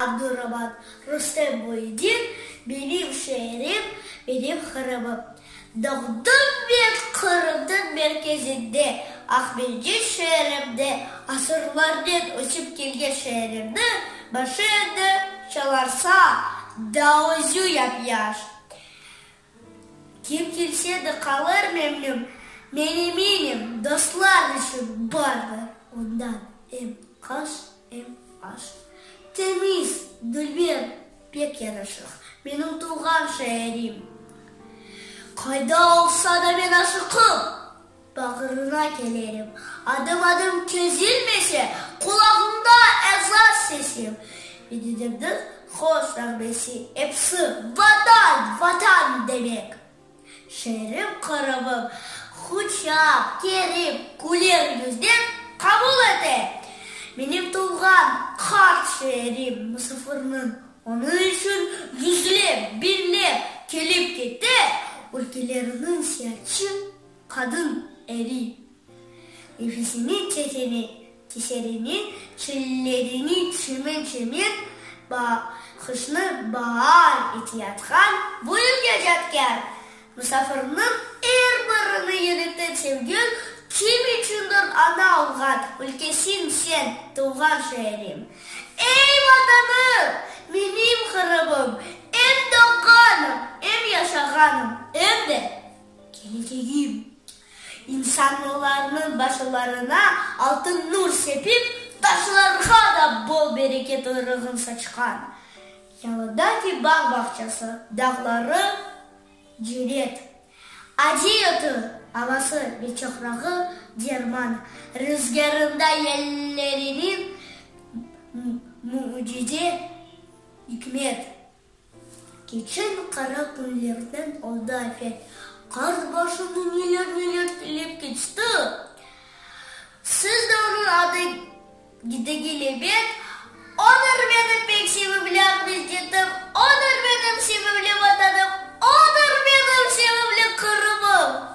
Abdurabad, Rustem Boyedin, Benim şeerim, benim Qırımım. Doğdım men Qırımnıñ merkezinde, Aqmescit şeerimde, asırlarnen ösip kelgen şeerimni başı endi çalarsa, daözü yap-yaş. Kim kelse de qalır memnün. Meneminim dostlar içün bardır ondan em qaş, em aş. Temiz, dülber, pek yanaşıq, menim tuvğan şeerim. Qayda olsa da men aşıqım. Bağrına kelerim, adım-adım kezilmese, Qulağımda ezan sesim. Bididimniñ hoz nağmesi, episi Vatan, Vatan demek. Şeerim Qırımım quçaq kerip, Küler yüznen qabul ete. Menim tuvğan qart şeerim musafirniñ, Onıñ içün yüzlep, biñlep kelip-kete, Ülkelerniñ seyaçı Qadın eli. Nefesini çekene, keserine, çillerini çeme-çeme, bahışnı baar etiyatqan bu evge cadkâr musafirniñ er birini yürekten sevgül, kim içündir ana olğan ülkesim sen, tuvğan şeerim. Ey, Vatanım! Menim Qırımım! Em doğğanım, em yaşağanım, em de. Keleceğim. İnsanlarnıñ başlarına altın nur sepip, taşlarğa da bol-bereket uyrğun saçqan. Yalıdaki bağ-bağçası, dağları cenet. Aciy otu, avası ve çoprağı derman. Rızgârında yelleriniñ mücize ikmet. Keçen qara künlerden oldı afet. Qart başını neler-neler tilep keçti. Siz de onıñ adı gidege lebet. Odır menim pek sevimli Aqmescitim, odır menim sevimli Vatanım, odır menim sevimli Qırımım.